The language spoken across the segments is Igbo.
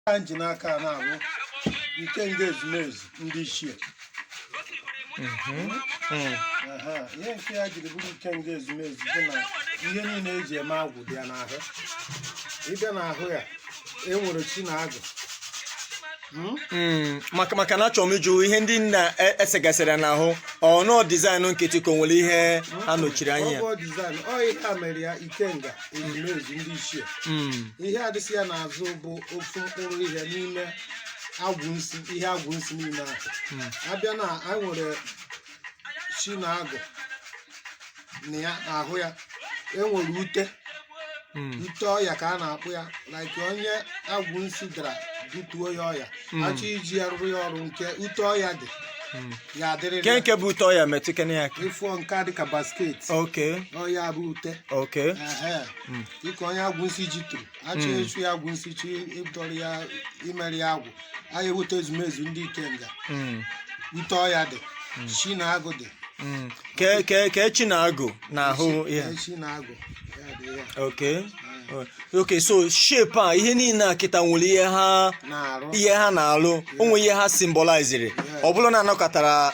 a ji n'aka a na-abụ ikenga ezumezu ndị ichie Aha, ihe nke ya jiri bụrụ ikenga ezumezu bụ na ihe niile e ji eme agwụ dị ya n'ahụ ị bịa n'ahụ ya e nwere chi na agụ Hmm? Hmm, maka maka na achọrọ m ịjụ ihe ndị a e- e segasịrị ya n'ahụ ọ bụ design nkịtị ka o nwere ihe ha nọchiri anya ya. Ọ bụ design, ọ ihe a mere ya ikenga ezumezu ndị ichie Hmm, ihe a dịsị ya n'azụ bụ ofu mkpụrụ ihe n'ime agwụ nsi ihe agwụ nsi niile ahụ a bịa na anyị nwere chi na agụ na ya ahụ ya e nwere ute Mm. ute ọya ka a na-akpọ ya like onye agwụ nsi dara butuo ya ọya Mm. a chọọ iji ya rụrụ ya ọrụ nke ute ọya dị Mm. ya adịrịrị Ke ya. nke bụ ute ọya metụkene ya aka. ị fụọ nke a dịka basket Okay. ọ ya bụ ute Okay. Ehe. Mm. dịka onye agwụ nsi ji turu a chọọ Mm. echu ya agwụ nsi chi ịdọrọ ya imere ya agwụ anyị eweta ezumezu ndị ikenga Mm, ute ọya dị chi na agụ dị mm. ke ke ke chi na agụ n'ahụ ihe Ee, chi na agụ ya dị ya okay okay so shape a ihe niile a kịta nwere ihe ha na-arụ ihe ha na-alụ o nwere ihe ha symboliziri ọ bụrụ na anọkọtara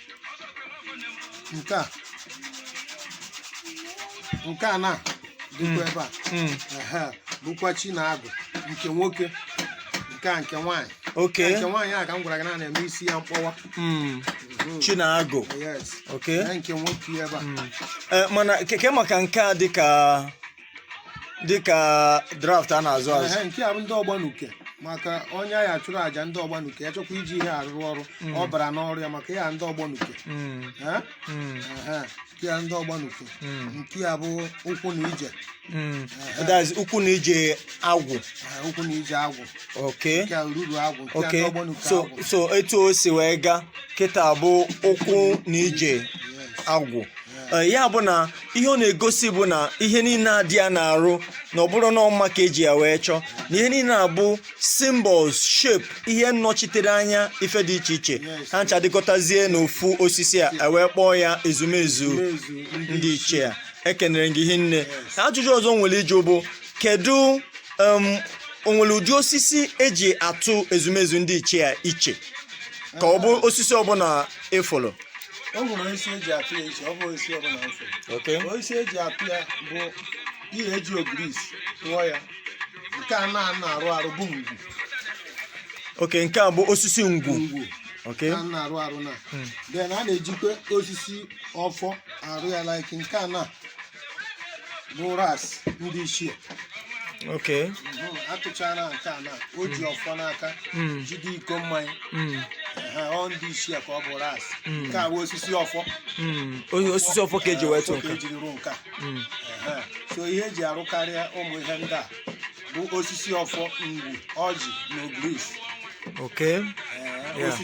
nke a nke a na dịkwa ebe a Mm. ehe, bụkwa chi na agụ nke nwoke nke a nke nwaanyị okay nke nwaanyị a ka m gwara gị na a na-eme isi ya mkpọwa Mm. Mhm. chi na agụ yes okay Ee, nke nwoke ebe a Eh, mana ke ke maka nke a dịka dịka draft a na-azụ azụ Ehe, nke a bụ ndị ọgbanuke maka onye a ya-achụrụ aja ndị ọgbanuke ya chọkwa iji ihe a rụọ ọrụ ọ bara n'ọrụ ya maka ya ndị ọgbanuke Mm, Eh? mm, Ehe, nke a ndị ọgbanuke mm, nke a bụ ụkwụ na ije mm. That is, ụkwụ na ije agwụ Eh, ụkwụ na ije agwụ okay nke a ruru agwụ nke a okay n'ọgbọ n'uke so agwụ so etu o si wee gaa kịta bụ ụkwụ na ije agwụ Ee, ya bụ na ihe ọ na-egosi bụ na ihe niile a dị ya n'arụ na ọ bụrọ na ọ mma ka e ji ya wee chọọ na ihe niile a bụ symbols shape ihe nnọchitere anya ife dị iche iche ha ncha dịkọtazie n'ofu osisi a e wee kpọọ ya ezumezu ndị ichie a ekenere m gị hinne ajụjụ ọzọ m nwere ịjụ bụ kedu um, o nwere ụdị osisi eji atụ ezumezu ndị ichie a iche ka ọ bụ osisi ọbụla ị fụrụ o nwere osisi eji atụ ya iche ọ bụ osisi ọbụla ofe Okay. osisi eji atụ ya bụ ihe eji ogirisi tụọ ya nke a na a na-arụ arụ bụ ngwu Okay nke a bụ osisi ngwu ngwu Okay a na-arụ arụ na then a na-ejikwa osisi ọfọ arụ ya like nke a na bụ arụsị ndị ichie Okay. Mhm, a tụchara nke a na o ji ọfọ n'aka Mm. jide iko mmanya Mm. Ehe, ọ ndị ichie ka ọ bụ arụsị Mm. nke a bụ osisi ọfọ Mm. Onye osisi ọfọ ka eji wee tụ Ọfọ ka nke. ejiri rụọ nke a Mm. Ehe. so ihe eji arụkarịa ụmụ ihe ndị a bụ osisi ọfọ ngwu ọjị na ogirisi Okay. Ee, Yeah. osisi